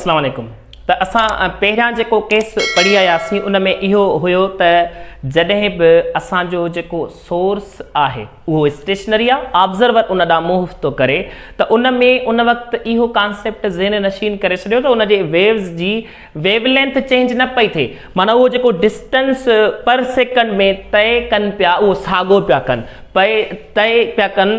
السلام عليڪم ته اسان پهريان جيڪو ڪيس پڙهي آياسين ان ۾ اهو هيو ته جڏهن به اسان جو جيڪو سورس آهي اهو اسٽيشنري آ آبزرور ان ڏانهن منهن ٿو ڪري ته ان ۾ ان وقت اهو ڪانسيپٽ ذهن نشين ڪري ڇڏيو ته ان جي ويوز جي ويو لينٿ چينج نه پئي ٿئي معنيٰ اهو جيڪو ڊسٽنس پر سيڪنڊ ۾ طئي ڪن پيا اهو ساڳو پيا ڪن پئي طئي پيا ڪن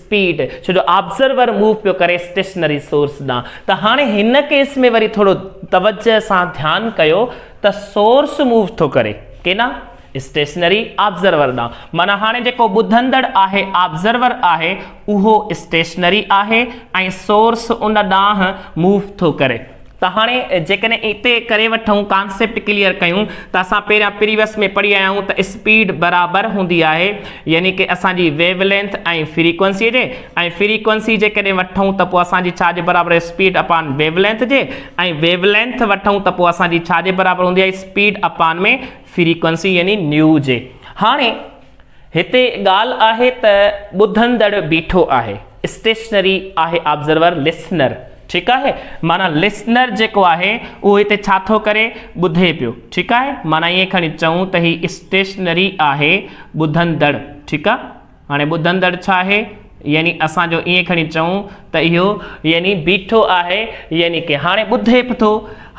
اسپيڊ ڇو جو آبزرور موو پيو ڪري اسٽيشنري سورس ڏانهن ته هاڻي هن ڪيس ۾ وري ٿورو توجه سان ڌيان ڪيو ته سورس موو ٿو ڪري ڪيڏانهن اسٽيشنري آبزرور ڏانهن معنيٰ هاڻي جيڪو ٻڌندڙ آهي آبزرور آهي اهو اسٽيشنري آهي ۽ سورس ان ڏانهن موو ٿو ڪري ته هاڻي جيڪڏهن اتي ڪري وٺون ڪانسيپٽ ڪليئر ڪيون ته اسان پهريان پريوس ۾ پڙهي آيا آهيون ته اسپيڊ برابر هوندي آهي يعني ڪي اسان جي ويو لينٿ ۽ فريڪوئنسي جي ۽ فريڪوئنسي جيڪڏهن وٺون ته پوء اسان جي ڇا جي برابر اسپيڊ اپان ويو لينٿ جي ۽ ويو لينٿ وٺون ته پوء اسان جي ڇا جي برابر هوندي آهي اسپيڊ اپان ۾ فريڪوئنسي يعني نيو جي هاڻي هتي ڳالهه آهي ته ٻڌندڙ بيٺو آهي، اسٽيشنري آهي آبزرور، لسنر، ٺيڪ آهي، معنيٰ لسنر جيڪو آهي اهو هتي ڇا ٿو ڪري؟ ٻڌي پيو، ٺيڪ آهي، معنيٰ ائين کڻي چئون ته هي اسٽيشنري آهي ٻڌندڙ، ٺيڪ آ، هاڻي ٻڌندڙ ڇا آهي؟ يعني اسان جو ائين کڻي چئون ته اهو يعني بيٺو آهي يعني ڪي هاڻي ٻڌي به ٿو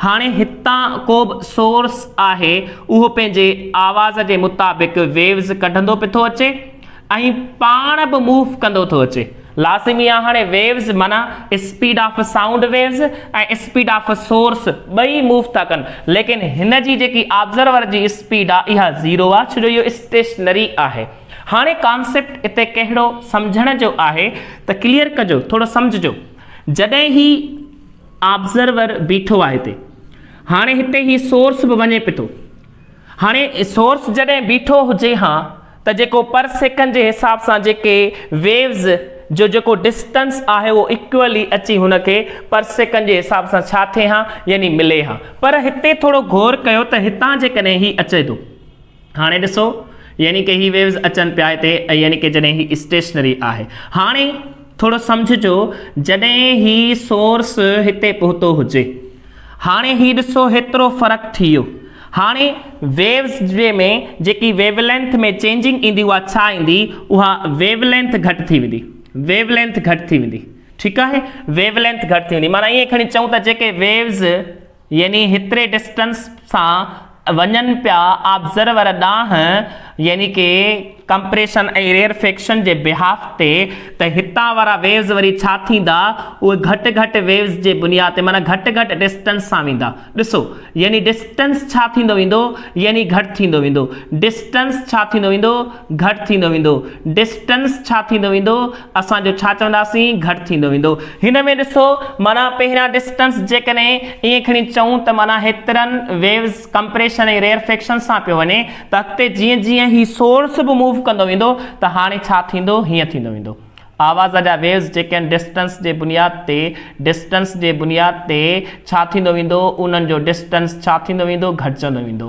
هاڻي هتان ڪو به سورس آهي اهو پنهنجي آواز جي مطابق ويوز ڪڍندو به ٿو اچي ۽ پاڻ به موف ڪندو ٿو اچي لازمي آهي هاڻي ويوز معنيٰ speed of sound waves ۽ speed of source ٻئي موف ٿا ڪن ليڪن هن جي جيڪي آبزرور جي اسپيڊ آهي اها زيرو آهي ڇو جو اهو اسٽيشنري آهي هاڻي ڪانسيپٽ اتي ڪهڙو سمجهڻ جو آهي ته ڪليئر ڪجو ٿورو سمجهجو جڏهن هي آبزرور بيٺو آهي هتي هاڻي هتي هي سورس به وڃي پي ٿو هاڻي سورس جڏهن بيٺو هجي ها ته جيڪو پر سيڪنڊ جي حساب سان جيڪي ويوز جو جيڪو ڊسٽنس آهي اهو اڪيولي اچي هن کي پر سيڪنڊ جي حساب سان ڇا ٿئي ها يعني ملي ها پر هتي ٿورو غور ڪيو ته هتان جيڪڏهن هي اچي ٿو هاڻي ڏسو يعني ڪه هي ويوز اچن پيا هتي يعني ڪه جڏهن هي اسٽيشنري آهي هاڻي ٿورو سمجهجو جڏهن هي سورس هتي پهتو هجي هاڻي هي ڏسو هيترو فرق ٿي ويو هاڻي ويوز جي ۾ جيڪي ويو لينٿ ۾ چينجنگ ايندي اها ڇا ايندي اها ويو لينٿ گهٽ ٿي ويندي ويو لينٿ گهٽ ٿي ويندي ٺيڪ آهي ويو لينٿ گهٽ ٿي ويندي معنيٰ ائين کڻي چئون ته جيڪي ويوز يعني هيتري ڊسٽنس سان وڃن پيا آبزرور ڏانهن يعني ڪي ڪمپريشن ۽ ريئر فيڪشن جي بهاف تي ته هتان وارا ويوز وري ڇا ٿيندا اهي گهٽ گهٽ ويوز جي بنياد تي معنيٰ گهٽ گهٽ ڊسٽنس سان ويندا ڏسو يعني ڊسٽنس ڇا ٿيندو ويندو يعني گهٽ ٿيندو ويندو ڊسٽنس ڇا ٿيندو ويندو گهٽ ٿيندو ويندو ڊسٽنس ڇا ٿيندو ويندو اسان جو ڇا چونداسين گهٽ ٿيندو ويندو. هن ۾ ڏسو معنيٰ پهريان ڊسٽنس جيڪڏهن ائين کڻي چئون ته معنيٰ هيترن ويوز ڪمپريشن ۽ ريئرفيڪشن سان پيو وڃي ته اڳتي جيئن جيئن هي سورس به موو ڪندو ويندو ته هاڻي ڇا ٿيندو هيئن ٿيندو ويندو آواز جا ويوز جيڪي آهن ڊسٽنس جي بنياد تي ڊسٽنس جي بنياد تي ڇا ٿيندو ويندو انهن جو ڊسٽنس ڇا ٿيندو ويندو گهٽجندو ويندو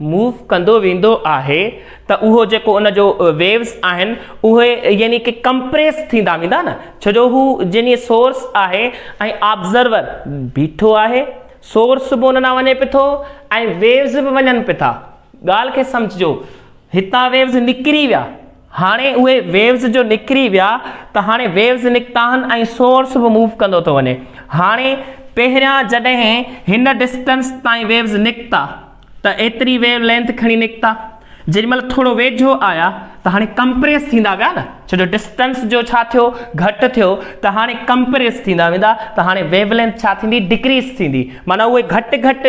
موو ڪندو ويندو آهي ته اهو جيڪو ان جو ويوز آهن اهي يعني ڪي ڪمپريس ٿيندا ويندا نه ڇو جو هو جني سورس آهي ۽ آبزرور بيٺو آهي سورس به ان ڏانهن وڃي پي ٿو ۽ ويوز به وڃن پي ٿا ڳالهه کي سمجهجو هتان ويوز نڪري ويا هاڻي اهي ويوز جو نڪري ويا ته هاڻي ويوز نڪتا آهن ۽ سورس به موو ڪندو ٿو وڃي هاڻي پهريان جڏهن هن ڊسٽنس تائين ويوز نڪتا ته ايتري ويو لينٿ کڻي نڪتا جيڏي مھل ٿورو ويجھو آيا ته ھاڻي ڪمپريس ٿيندا ويا نه ڇو جو ڊسٽنس جو ڇا ٿيو گھٽ ٿيو ته ھاڻي ڪمپريس ٿيندا ويندا ته ھاڻي ويو لينٿ ڇا ٿيندي ڊڪريس ٿيندي معنيٰ اھي گھٽ گھٽ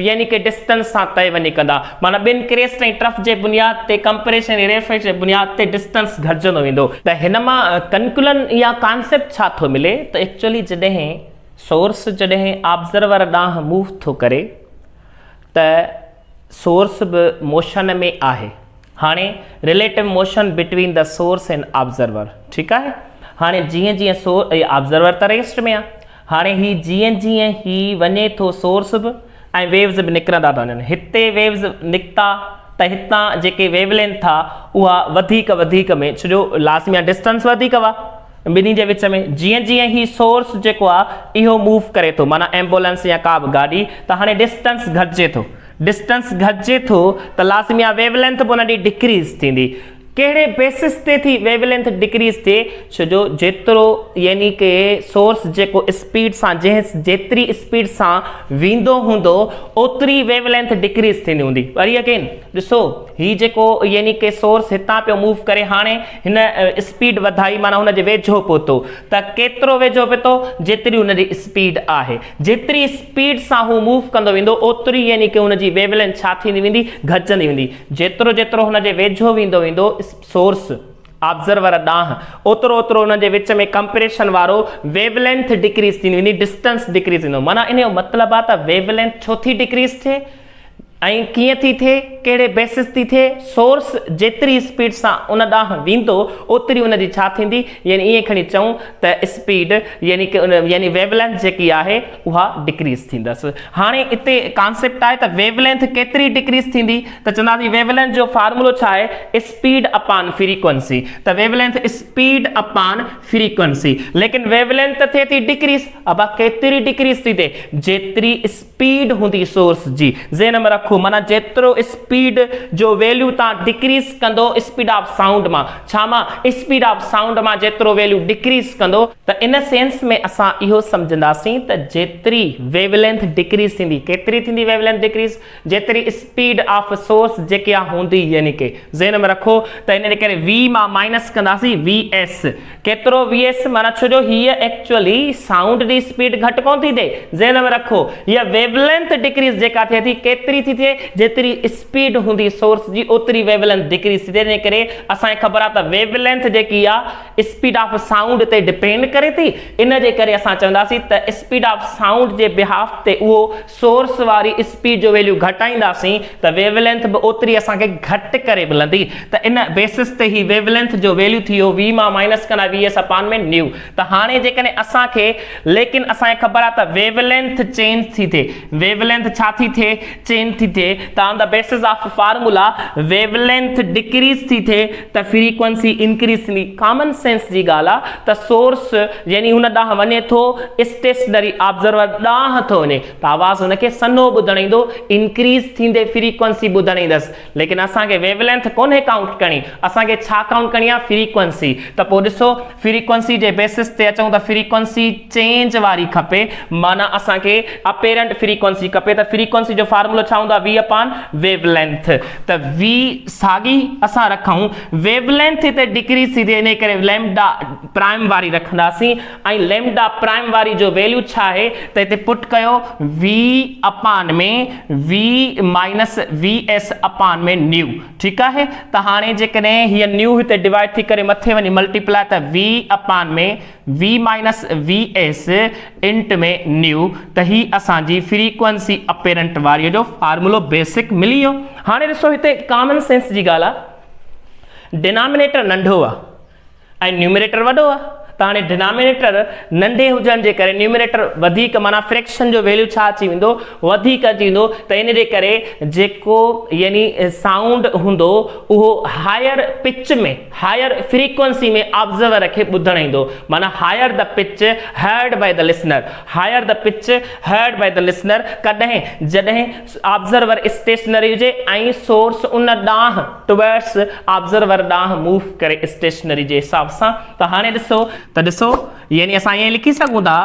يعني ڪي ڊسٽنس سان طئي وڃي ڪندا معنيٰ ٻن ڪريسٽ ۽ ٽرف جي بنياد تي ڪمپريس ۽ ريفريس جي بنياد تي ڊسٽنس گھٽجندو ويندو. ته ھن مان ڪنڪلن يا ڪانسيپٽ ڇا ٿو ملي ته ايڪچوئلي جڏھن سورس جڏھن آبزرور ڏانھن موو ٿو ڪري ته سورس به موشن ۾ آهي. هاڻي relative motion between the source and observer ٺيڪ آهي هاڻي جيئن جيئن سور اي آبزرور ته ريسٽ ۾ آهي هاڻي هي جيئن جيئن هي وڃي ٿو سورس به ۽ ويوز به نڪرندا ٿا وڃن هتي ويوز نڪتا ته هتان جيڪي ويو لينٿ آهي اها وڌيڪ وڌيڪ ۾ ڇو جو لازمي آهي ڊسٽنس وڌيڪ هئا ٻنهي جي وچ ۾ جيئن جيئن هي سورس جيڪو آ اهو موو ڪري ٿو معنيٰ ايمبولينس يا ڪا به گاڏي ته هاڻي ڊسٽنس گهٽجي ٿو ڊسٽنس گهٽجي ٿو ته لازمي آ ويو لينٿ به ان ڏي ڊڪريز ٿيندي ڪهڙي بيسس تي ٿي ويو لينٿ ڊڪريز ٿئي ڇو جو جيترو يعني ڪي سورس جيڪو اسپيڊ سان جنهن جيتري اسپيڊ سان ويندو هوندو اوتري ويو لينٿ ڊڪريز ٿيندي هوندي وري اگين ڏسو هي جيڪو يعني ڪي سورس هتان پيو موو ڪري هاڻي هن اسپيڊ وڌائي معنيٰ هن جي ويجهو پهتو ته ڪيترو ويجهو پهتو جيتري هن جي اسپيڊ آهي جيتري اسپيڊ سان هو موو ڪندو ويندو اوتري يعني ڪه هن جي ويو لينٿ ڇا ٿيندي ويندي گهٽجندي ويندي جيترو جيترو هن جي ويجهو ويندو ويندو سورس آبزرور ڏانهن اوترو اوترو هن جي وچ ۾ ڪمپريشن وارو ويو لينٿ ڊڪريز ٿيندي ويندي ڊسٽنس ڊڪريز ٿيندو معنيٰ ان جو مطلب آهي ته ويو لينٿ ڇو ٿي ڊڪريز ٿئي ۽ ڪيئن ٿي ٿئي، ڪهڙي بيسس تي ٿئي، سورس جيتري اسپيڊ سان ان ڏانهن ويندو اوتري ان جي ڇا ٿيندي يعني ائين کڻي چئون ته اسپيڊ يعني يعني ويو لينٿ جيڪي آهي اها ڊڪريز ٿيندس. هاڻي اتي ڪانسيپٽ آهي ته ويو لينٿ ڪيتري ڊڪريز ٿيندي ته چونداسين ويو لينٿ جو فارمولو ڇا آهي اسپيڊ اپان فريڪوئنسي ته wavelength speed upon frequency ليڪن ويو لينٿ ته ٿئي ٿي ڊڪريز ابا ڪيتري ڊڪريز ٿي ٿئي جيتري اسپيڊ هوندي سورس جي ذهن ۾ رکو معنيٰ جيترو اسپيڊ جو ويليو تان ڊڪريز ڪندو اسپيڊ آف سائونڊ مان ڇا مان اسپيڊ آف سائونڊ مان جيترو ويليو ڊڪريز ڪندو ته ان سينس ۾ اسان اهو سمجهنداسين ته جيتري ويو لينٿ ڊڪريز ٿيندي ڪيتري ٿيندي ويو لينٿ ڊڪريز جيتري اسپيڊ آف سورس جيڪي آ هوندي يعني ڪي ذهن ۾ رکو ته ان ڪري وي مان مائنس ڪنداسين وي ايس ڪيترو ويئس معنيٰ ڇو جو هيء ايڪچوئلي سائونڊ جي اسپيڊ گهٽ ڪونه ٿي ٿئي ذهن ۾ رکو هيء ويو لينٿ ڊڪريز جيڪا ٿئي ٿي ڪيتري ٿي ٿئي جيتري اسپيڊ هوندي سورس جي اوتري ويو لينٿ ڊڪريز ٿي ٿئي تنهن ڪري اسان کي خبر آهي ته ويو لينٿ جيڪي آهي اسپيڊ آف سائونڊ تي ڊپينڊ ڪري ٿي ان جي ڪري اسان چونداسين ته اسپيڊ آف سائونڊ جي بهاف تي اهو سورس واري اسپيڊ جو ويليو گهٽائينداسين ته ويو لينٿ به اوتري اسان کي گهٽ ڪري ملندي ته ان بيسس تي هي ويو لينٿ جو ويليو ٿي ويو وي مان مائنس ڪندا وي ايس اپان ۾ نيو ته هاڻي جيڪڏهن اسان کي ليڪن اسان کي خبر آهي ته ويو لينٿ چينج ٿي ٿئي ويو لينٿ ڇا ٿي ٿئي چينج ٿي ٿئي ته on the basis of formula wavelength decrease ٿي ٿئي ته فريڪوئنسي انڪريسلي ڪامن سينس جي ڳالهه آ ته سورس يعني هن ڏانهن وڃي ٿو اسٽيشنري آبزرور ڏانهن ٿو وڃي ته آواز هن کي سنهو ٻڌڻ ايندو انڪريس ٿيندي فريڪوئنسي ٻڌڻ ايندس ليڪن اسان کي ويولينٿ ڪونهي ڪائونٽ ڪرڻي اسان کي ڇا ڪائونٽ ڪرڻي آ فريڪوئنسي ته پوء ڏسو فريڪوئنسي جي بيسس تي اچون ته فريڪوئنسي چينج واري کپي معنيٰ اسان کي اپيرنٽ فريڪوئنسي کپي ته فريڪوئنسي جو فارمولو ڇا هوندو آهي وي اپان ويو لينٿ ته وي ساڳي اسان رکون ويو لينٿ هتي ڊڪريز ٿي ٿئي انهي ڪري ليمڊا پرائم واري رکنداسين ۽ ليمڊا پرائم واري جو ويليو ڇا آهي ته هتي پٽ ڪيو V upon ۾ V minus V S upon ۾ nu ٺيڪ آهي ته هاڻي جيڪڏهن هيء نيو هتي ڊوائيڊ ٿي ڪري مٿي وڃي ملٽي پلائي ته V upon ۾ V minus V S into ۾ nu ته هي اسان جي فريڪوئنسي اپيرنٽ واريء جو فارمولو بيسڪ ملي ويو. هاڻي ڏسو هتي ڪامن سينس جي ڳالهه آهي ڊينامينيٽر ننڍو آهي. ۽ نيومريٽر وڏو آ ته هاڻي ڊنامينيٽر ننڍي هجڻ جي ڪري نيومريٽر وڌيڪ معنيٰ فريڪشن جو ويليو ڇا اچي ويندو وڌيڪ اچي ويندو ته ان جي ڪري جيڪو يعني سائونڊ هوندو اهو higher pitch ۾ higher frequency ۾ observer کي ٻڌڻ ايندو معنيٰ higher the pitch heard by the listener higher the pitch heard by the listener ڪڏهن جڏهن آبزرور اسٽيشنري هجي ۽ سورس ان ڏانهن Towards آبزرور ڏانهن موو ڪري اسٽيشنري جي حساب سان ته هاڻي ڏسو ته ڏسو يعني اسان ائين لکي سگهون ٿا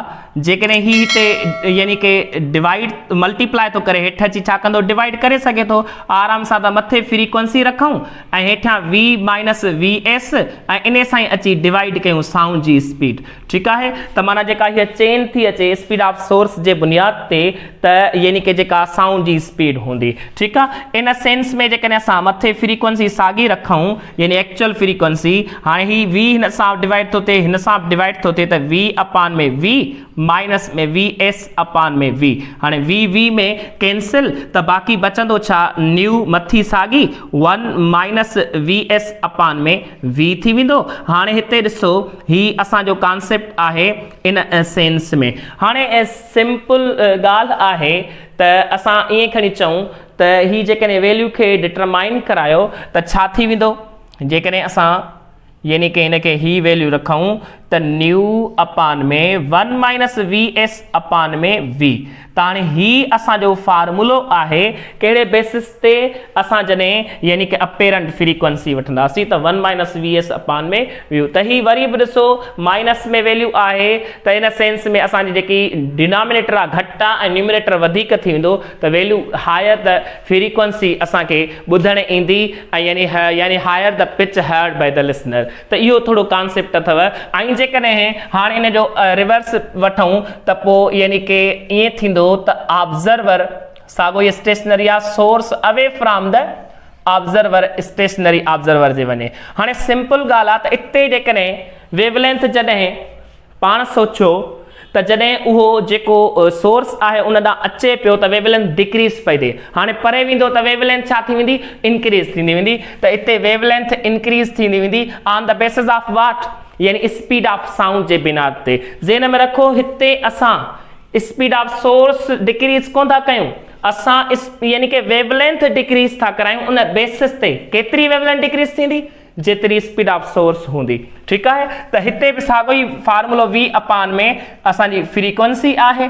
جيڪڏهن هي هتي يعني ڪي ڊوائيڊ ملٽيپلائي ٿو ڪري هيٺ اچي ڇا ڪندو ڊوائيڊ ڪري سگهي ٿو آرام سان ته مٿي فريڪوئنسي رکون ۽ هيٺيان وي مائنس وي ايس ۽ انهي سان ئي اچي ڊوائيڊ ڪيون سائونڊ جي اسپيڊ ٺيڪ آهي ته معنيٰ جيڪا هيء چين ٿي اچي اسپيڊ آف سورس جي بنياد تي ته يعني ڪه جيڪا سائونڊ جي اسپيڊ هوندي ٺيڪ آهي ان سينس ۾ جيڪڏهن اسان مٿي فريڪوئنسي ساڳي رکون يعني ايڪچوئل فريڪوئنسي هاڻي هي V هن سان ڊوائيڊ ٿو ٿئي هن سان به ڊوائيڊ ٿو ٿئي ته V upon ۾ V minus ۾ V S upon ۾ V هاڻي V V ۾ ڪينسل ته باقي بچندو ڇا نيو مٿي ساڳي one minus V S upon ۾ V ٿي ويندو هاڻي هتي ڏسو هي اسان جو ڪانسيپٽ آهي ان سينس ۾ هاڻي سمپل ڳالهه آهي ته اسان ائين کڻي چئون ته هي جيڪڏهن ويليو کي ڊٽرمائن ڪرايو ته ڇا ٿي ويندو جيڪڏهن اسان يعني ڪه هن کي هي ويليو رکون ته nu upon ۾ one minus V S upon ۾ V ته هاڻي هي اسان جو فارمولو آهي ڪهڙي بيسس تي اسان جڏهن يعني ڪه اپيرنٽ فريڪوئنسي وٺنداسين ته one minus V S upon ۾ ويو ته هي وري به ڏسو مائنس ۾ ويليو آهي ته ان سينس ۾ اسان جي جيڪي ڊينامينيٽر آهي گهٽ آهي ۽ نيومينيٽر وڌيڪ ٿي ويندو ته ويليو هائر ته فريڪوئنسي اسان کي ٻڌڻ ايندي ۽ يعني يعني higher the pitch heard by the listener. ته اهو ٿورو ڪانسيپٽ اٿو ۽ جيڪڏهن هاڻي ان جو ريورس وٺون ته پوء يعني ڪي ائين ٿيندو ته آبزرور ساڳو ئي اسٽيشنري آ source away from the observer stationary observer جي وڃي هاڻي سمپل ڳالهه آ ته اتي جيڪڏهن ويولينٿ جڏهن پاڻ سوچيو ته جڏهن اهو جيڪو سورس آهي ان ڏانهن اچي پيو ته ويو لينٿ ڊڪريز پئي ٿئي هاڻي پري ويندو ته ويو لينٿ ڇا ٿي ويندي انڪريز ٿيندي ويندي ته اتي ويو لينٿ انڪريز ٿيندي ويندي on the basis of what يعني اسپيڊ آف سائونڊ جي بناد تي ذهن ۾ رکو هتي اسان اسپيڊ آف سورس ڊڪريز ڪون ٿا ڪيون اسان يعني ڪي ويو لينٿ ڊڪريز ٿا ڪرايون ان بيسز تي ڪيتري ويو لينٿ ڊڪريز ٿيندي. جيتري اسپيڊ آف سورس هوندي ٺيڪ آهي ته هتي به ساڳو ئي فارمولو وي اپان ۾ اسان جي فريڪوئنسي آهي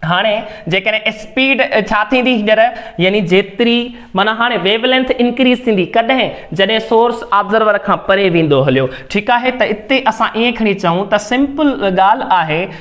هاڻي جيڪڏهن اسپيڊ ڇا ٿيندي هينئر يعني جيتري معنيٰ هاڻي ويو لينٿ انڪريز ٿيندي ڪڏهن جڏهن سورس آبزرور کان پري ويندو هليو ٺيڪ آهي ته اتي اسان ائين کڻي چئون ته سمپل ڳالهه آهي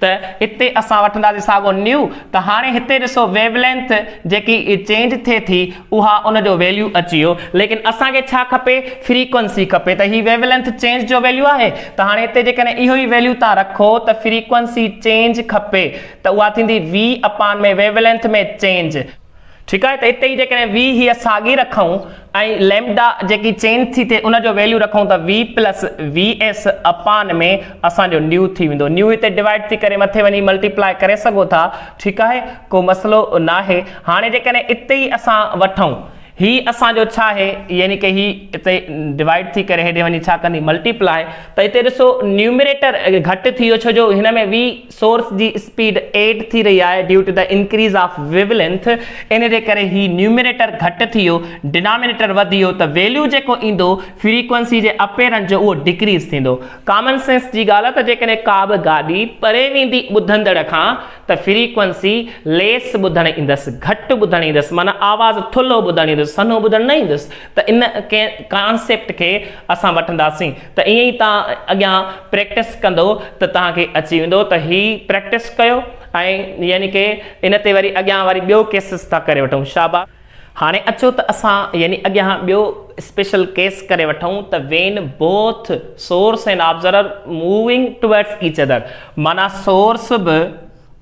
ته هتي اسان وٺنداسين ساڳو نيو ته هاڻي هتي ڏسو ويو لينٿ جيڪي چينج ٿئي ٿي اها ان جو ويليو اچي ويو ليڪن اسان کي ڇا کپي فريڪوئنسي کپي ته هي ويو لينٿ چينج جو ويليو آهي ته هاڻي هتي جيڪڏهن اهو ئي ويليو تان رکو ته فريڪوئنسي چينج کپي ته اها ٿيندي V upon ۾ wavelength ۾ change ٺيڪ آهي ته اتي جيڪڏهن وي هيء ساڳي رکون ۽ ليمڊا جيڪي چينج ٿي ٿئي ان جو ويليو رکون ته V plus V S upon ۾ اسان جو نيو ٿي ويندو نيو هتي ڊوائيڊ ٿي ڪري مٿي وڃي ملٽي پلائي ڪري سگهو ٿا ٺيڪ آهي ڪو مسئلو ناهي هاڻي جيڪڏهن اتي ئي اسان وٺون هي اسان جو ڇا آهي يعني ڪي هي اتي ڊوائيڊ ٿي ڪري هيڏي وڃي ڇا ڪندي ملٽي پلائي ته اتي ڏسو نيومريٽر گهٽ ٿي ويو ڇو جو هن ۾ وي سورس جي اسپيڊ ايڊ ٿي رهي آهي due to the increase of wavelength ان جي ڪري هي نيومريٽر گهٽ ٿيو ڊينامينيٽر وڌيو ته ويليو جيڪو ايندو فريڪوئنسي جي اپيرنس جو اهو ڊڪريز ٿيندو ڪامن سينس جي ڳالهه ته جيڪڏهن ڪا به گاڏي پري ويندي ٻڌندڙ کان ته فريڪوئنسي ليس ٻڌڻ ايندس گهٽ ٻڌڻ ايندس معنيٰ آواز ٿلهو ٻڌڻ ايندس سنهو ٻڌڻ نه ايندس ته ان ڪنهن ڪانسيپٽ کي اسان وٺنداسين ته ائين ئي توهان اڳيان پريڪٽس ڪندو ته توهان کي اچي ويندو ته هي پريڪٽس ڪيو ۽ يعني ڪي ان تي وري اڳيان وري ٻيو ڪيسز ٿا ڪري وٺون شاباس. هاڻي اچو ته اسان يعني اڳيان ٻيو اسپيشل ڪيس ڪري وٺون ته when both source and observer moving towards each other معنيٰ سورس به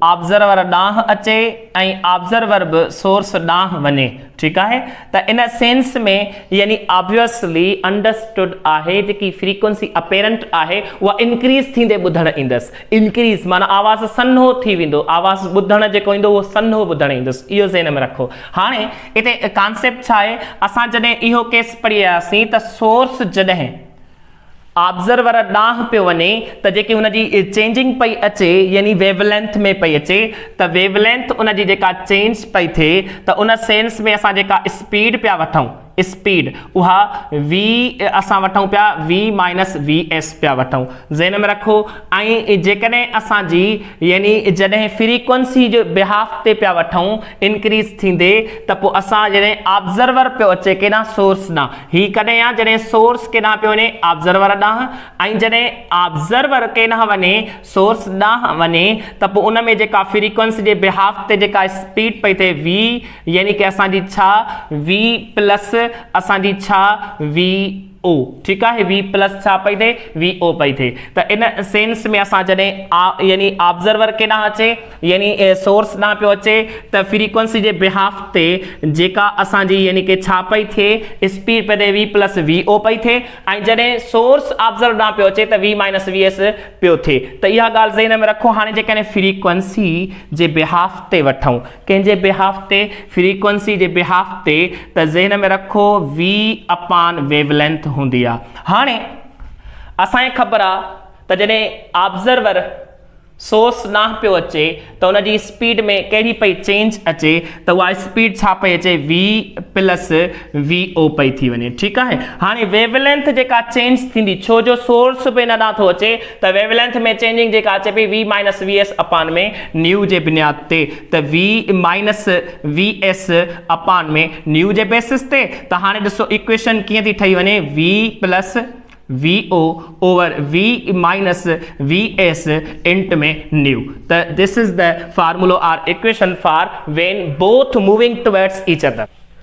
آبزرور ڏانهن اچي ۽ آبزرور به سورس ڏانهن وڃي ٺيڪ آهي ته ان سينس ۾ يعني آبويسلي انڊرسٽوڊ آهي جيڪي فريڪوئنسي اپيرنٽ آهي اها انڪريز ٿيندي ٻڌڻ ايندس انڪريز معنيٰ آواز سنهو ٿي ويندو آواز ٻڌڻ جيڪو ايندو اهو سنهو ٻڌڻ ايندس اهو ذهن ۾ رکو هاڻي اتي ڪانسيپٽ ڇا آهي اسان جڏهن اهو ڪيس پڙهي آياسين ته سورس جڏهن آبزرور ڏانهن پيو وڃي ته جيڪي ان جي چينجنگ پئي اچي يعني ويو لينٿ ۾ پئي اچي ته ويو لينٿ ان جي جيڪا چينج پئي ٿئي ته ان سينس ۾ اسان جيڪا اسپيڊ پيا وٺون اسپيڊ اها وي اسان وٺون پيا وي مائنس وي ايس پيا وٺون ذهن ۾ رکو ائين جيڪڏهن اسان جي يعني جڏهن فريڪوئنسي جو بهاف تي پيا وٺون انڪريز ٿيندي ته پوء اسان جڏهن آبزرور پيو اچي ڪيڏانهن سورس ڏانهن هي ڪڏهن آ جڏهن سورس ڪيڏانهن پيو وڃي آبزرور ڏانهن ۽ جڏهن آبزرور ڪيڏانهن وڃي سورس ڏانهن وڃي ته پوء ان ۾ جيڪا فريڪوئنسي جي بهاف تي جيڪا اسپيڊ پئي ٿئي v يعني ڪه اسان جي ڇا v پلس اسان جي ڇا v او ٺيڪ آهي وي پلس ڇا پئي ٿئي وي او پئي ٿئي ته ان سينس ۾ اسان جڏهن آ يعني آبزرور ڪيڏانهن اچي يعني سورس ڏانهن پيو اچي ته فريڪوئنسي جي بهاف تي جيڪا اسان جي يعني ڪي ڇا پئي ٿئي اسپيڊ پئي ٿئي وي پلس وي او پئي ٿئي ۽ جڏهن سورس آبزرور ڏانهن پيو اچي ته وي مائنس وي ايس پيو ٿئي ته اها ڳالهه ذهن ۾ رکو هاڻي جيڪڏهن فريڪوئنسي جي بهاف تي وٺون ڪنهن جي بيهاف تي؟ فريڪوئنسي جي بيهاف تي ته ذهن ۾ رکو وي اپان ويو لينٿ هوندي آ. هاڻي اسان کي خبر آ ته جڏهن آبزرور، سورس، ڏانهن پيو اچي ته ان جي اسپيڊ ۾ ڪهڙي پئي چينج اچي ته اها اسپيڊ ڇا پئي اچي وي پلس وي او پئي ٿي وڃي ٺيڪ آهي هاڻي ويو لينٿ جيڪا چينج ٿيندي ڇو جو سورس به ان ڏانهن ٿو اچي ته ويو لينٿ ۾ چينجنگ جيڪا اچي پئي V minus V S upon ۾ nu جي بنياد تي ته V minus V S upon ۾ nu جي بيسس تي ته هاڻي ڏسو ايڪويشن ڪيئن ٿي ٺهي وڃي V plus V O over V minus V S into ۾ nu ته دس از د فارمولو or equation for when both moving towards each other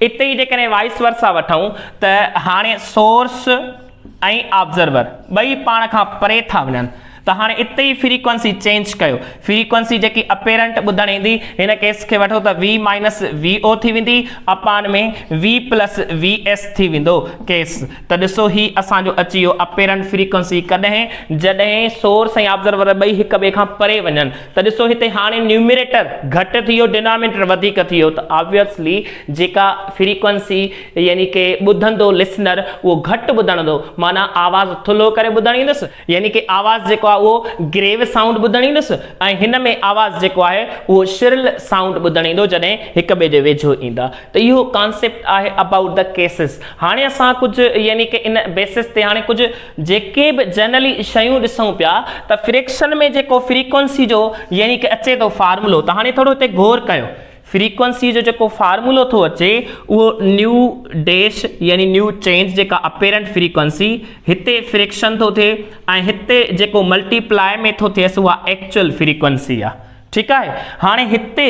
اتي ئي جيڪڏهن وائيس ورسا وٺون ته هاڻي سورس ۽ آبزرور ٻئي پاڻ کان پري ٿا وڃن ته هاڻي اتي ئي فريڪوئنسي چينج ڪيو فريڪوئنسي جيڪي اپيرنٽ ٻڌڻ ايندي هن ڪيس کي وٺو ته وي مائنس وي او ٿي ويندي upon ۾ V plus V S ٿي ويندو ڪيس ته ڏسو هي اسان جو اچي ويو اپيرنٽ فريڪوئنسي ڪڏهن جڏهن سورس ۽ آبزرور ٻئي هڪ ٻئي کان پري وڃن ته ڏسو هتي هاڻي نيومريٽر گهٽ ٿي ويو ڊينامينيٽر وڌيڪ ٿي ويو ته آبويسلي جيڪا فريڪوئنسي يعني ڪي ٻڌندو لسنر اهو گهٽ ٻڌڻدو معنيٰ آواز ٿلهو ڪري ٻڌڻيندس يعني ڪي آواز جيڪو آهي اهو گريو سائونڊ ٻڌڻيندس ۽ هن ۾ آواز جيڪو آهي اهو شرل سائونڊ ٻڌڻيندو جڏهن هڪ ٻئي جي ويجهو ايندا ته اهو ڪانسيپٽ آهي ابائوٽ ڌه ڪيسز هاڻي اسان ڪجهه يعني ڪي ان بيسز تي هاڻي ڪجهه جيڪي به جنرلي شيون ڏسون پيا ته فريڪشن ۾ جيڪو فريڪوئنسي جو يعني ڪه اچي ٿو فارمولو ته هاڻي ٿورو هتي غور ڪيو فريڪوئنسي جو جيڪو فارمولو ٿو اچي اهو نيو ڊيش يعني نيو چينج جيڪا اپيرنٽ فريڪوئنسي هتي فريڪشن ٿو ٿئي ۽ هتي جيڪو ملٽيپلاء ۾ ٿو ٿئيس اها ايڪچوئل فريڪوئنسي آهي ٺيڪ آهي هاڻي هتي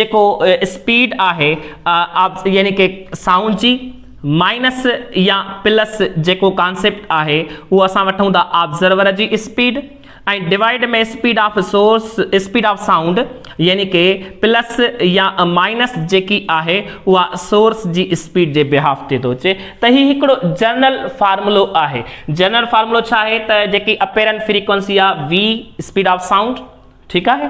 جيڪو اسپيڊ آهي يعني ڪه سائونڊ جي مائنس يا پلس جيڪو ڪانسيپٽ آهي اهو اسان وٺون ٿا آبزرور جي speed ۽ divide ۾ speed of source speed of sound يعني ڪي پلس يا مائنس جيڪي آهي اها سورس جي اسپيڊ جي بهاف تي ٿو اچي ته هي هڪڙو جنرل فارمولو آهي جنرل فارمولو ڇا آهي ته جيڪي اپيرنٽ فريڪوينسي آهي وي اسپيڊ آف سائونڊ ٺيڪ آهي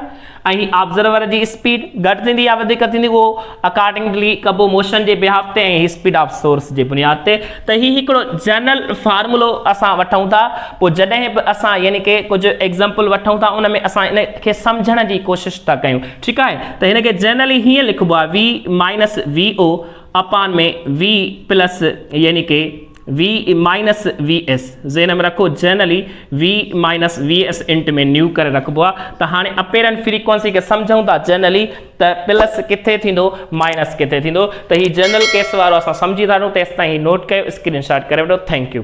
۽ آبزرور جي اسپيڊ گهٽ ٿيندي يا وڌيڪ ٿيندي اهو اڪارڊنگلي ڪبو موشن جي بهاف تي ۽ اسپيڊ آف سورس جي بنياد تي ته هي هڪڙو جنرل فارمولو اسان وٺون ٿا پوء جڏهن به اسان يعني ڪي ڪجهه ايگزامپل وٺون ٿا ان ۾ اسان ان کي سمجهڻ جي ڪوشش ٿا ڪيون ٺيڪ آهي ته هن کي جنرلي هيئن لکبو آهي V minus V O upon ۾ V پلس يعني ڪي وي مائنس وي ايس ذهن ۾ رکو generally V minus V S into ۾ nu ڪري رکبو آ ته هاڻي اپيرنٽ فريڪوئنسي کي سمجهون ٿا جنرلي ته پلس ڪٿي ٿيندو مائنس ڪٿي ٿيندو ته هي جنرل ڪيس وارو اسان سمجهي ٿا وٺون تيستائين هي نوٽ ڪيو اسڪرين شاٽ ڪري وٺو ٿينڪ يو